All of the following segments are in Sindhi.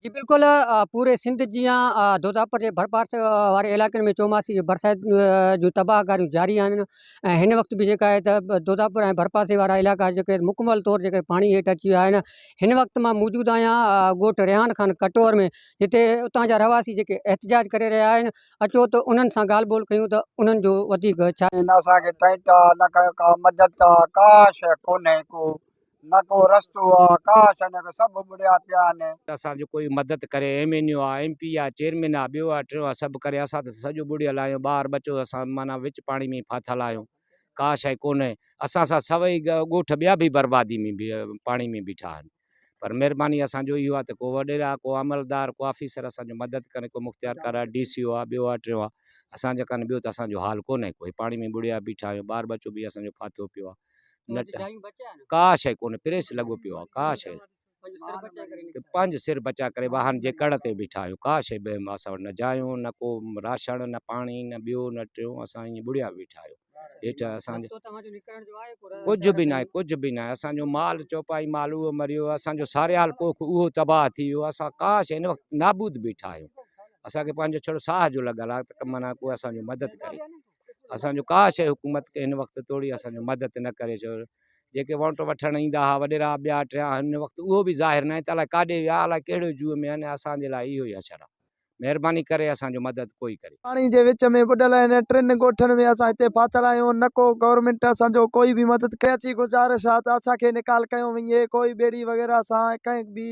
جي بلڪل پوري سنڌ جيان دوداپور جي ڀرپاسي واري علائقن ۾ چوماسي جي برسات جون تباهه ڪاريون جاري آهن ۽ هن وقت به جيڪا آهي ته دوداپور ۽ ڀرپاسي وارا علائقا جيڪي آهن مڪمل طور جيڪي پاڻي هيٺ اچي ويا آهن هن وقت مان موجود آهيان ڳوٺ ريحان خان ڪٽور ۾ جتي اتان جا رهواسي جيڪي احتجاج ڪري رهيا آهن اچو ته انهن سان ڳالهه ٻولهه ڪيون ته انهن جو وڌيڪ ڇا نه اسان کي ٽينٽ آ نه ڪا مدد آ ڪا شيء ڪونهي ڪو نه ڪو رستو آ، ڪاش انڪ سڀ ٻڙيا پيا آهن. اسان جو ڪوئي مدد ڪري ايم اين يو آ ايم پي آ چيئرمين آ ٻيو آ ٽيون آ سڀ ڪري اسان ته سڄو ٻڙيل آهيون ٻار ٻچو اسان معنيٰ وچ پاڻي ۾ ئي ڦاٿل آهيون ڪاش اهي ڪونهي اسان سان سوئي ڳوٺ ٻيا به بربادي ۾ پاڻي ۾ بيٺا آهن پر مهرباني اسان جو اهو آ ته ڪو وڏيرا ڪو عملدار ڪو آفيسر اسان جو مدد ڪري ڪو مختيارڪار آ ڊي سي او آ ٻيو آ ٽيون آ اسان جا ڪانه ٻيو ته اسان جو حال ڪونهي ڪوئي پاڻي ۾ ٻڙيا بيٺا آهيون ٻار ٻچو به اسان جو ڦاٿو پيو آ. نٽ ڪا شئي ڪونهي پريس لڳو پيو آ ڪا شئي پنهنجو سر بچا ڪري واهن جي ڪڙ تي بيٺا آهيون ڪا شئي به اسان وٽ نه جايون نه ڪو راشڻ نه پاڻي نه ٻيو نه ٽيون اسان ائين ٻڙيا بيٺا آهيون هيٺ اسان جو ڪجهه به ناهي ڪجهه به ناهي اسان جو مال چوپائي مال اهو مريو اسان جو ساريال پوک اهو تباهه ٿي ويو اسان ڪا شئي هن وقت نابود بيٺا آهيون اسان کي پنهنجو ڇڙو ساهه جو لڳل آهي ته معنيٰ ڪو اسان جو مدد ڪري اسان جو ڪا شيء حڪومت کي هن وقت توڙي اسان جو مدد نه ڪري ڇو جيڪي ووٽ وٺڻ ايندا ها وڏيرا ٻيا ٽيا هن وقت اهو به ظاهر ناهي ته الاء ڪاڏي ويا الاء ڪهڙو جوء ۾ آهن اسان جي لاء اهو ئي حشر آهي مهرباني ڪري اسان جو مدد ڪوئي ڪري. پاڻي جي وچ ۾ ٻڏل هن ٽن ڳوٺن ۾ اسان هتي ڦاٿل آهيون نه ڪو گورنمينٽ اسان جو ڪوئي به مدد ڪري اچي گذارش آهي ته اسان کي نيڪال ڪيو وڃي ڪوئي ٻيڙي وغيره سان ڪنهن به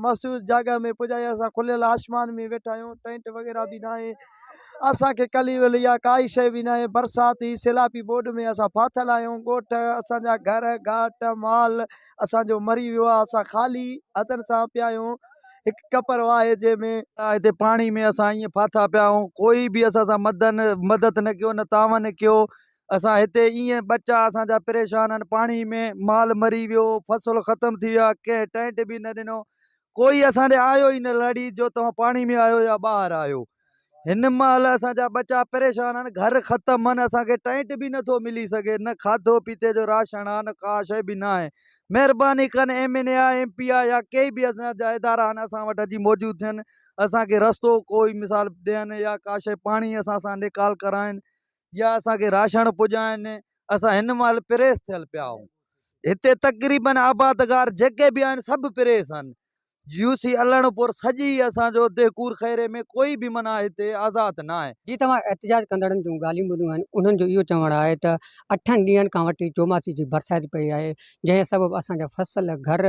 محسوس جاڳا ۾ پڄايو اسان کليل آسمان ۾ ويٺا آهيون ٽينٽ وغيره به ناهي اسانکي ڪلي ولي يا ڪائي شي به ناهي برساتي سيلابي ٻوڏ ۾ اسان ڦاٿل آهيون ڳوٺ اسانجا گهر گهاٽ مال اسانجو مري ويو آهي اسان خالي هٿن سان پيا آهيون هڪ ڪپر واهي جنهن ۾ هتي پاڻي ۾ اسان ايئن ڦاٿا پيا آهيون ڪوئي به اسان سان مدن مدد نه ڪيو نه تعاون ڪيو اسان هتي ايئن ٻچا اسان جا پريشان آهن پاڻي ۾ مال مري ويو فصل ختم ٿي ويا ڪنهن ٽينٽ به نه ڏنو ڪوئي اسان ڏي آيو ئي نه لڙي جو توهان پاڻي ۾ آيو يا ٻاهر آيو هن مهل اسان جا ٻچا پريشان آهن گهر ختم آهن اسانکي ٽينٽ به نٿو ملي سگهي نه کاڌو پيتي جو راشن آهي نه ڪا شي به ناهي مهرباني ڪن ايم اين اي آ ايم پي آ يا ڪي به اسان جا ادارا آهن اسان وٽ اچي موجود ٿين اسانکي رستو ڪوئي مثال ڏين يا ڪا شي پاڻي اسان سان نيڪال ڪرائين يا اسان کي راشڻ پڄائين اسان هن مهل پريس ٿيل پيا آهيون هتي تقريبن آبادگار جيڪي به آهن سڀ پريس آهن يو سي الڻ پور سڄي اسانجو دهڪور خيري ۾ ڪوئي به معنيٰ هتي آزاد نه آهي. جي توهان احتجاج ڪندڙن جون ڳالهيون ٻڌيون آهن انهن جو اهو چوڻ آهي ته اٺن ڏينهن کان وٺي چوماسي جي برسات پئي آهي جنهن سبب اسان جا فصل گهر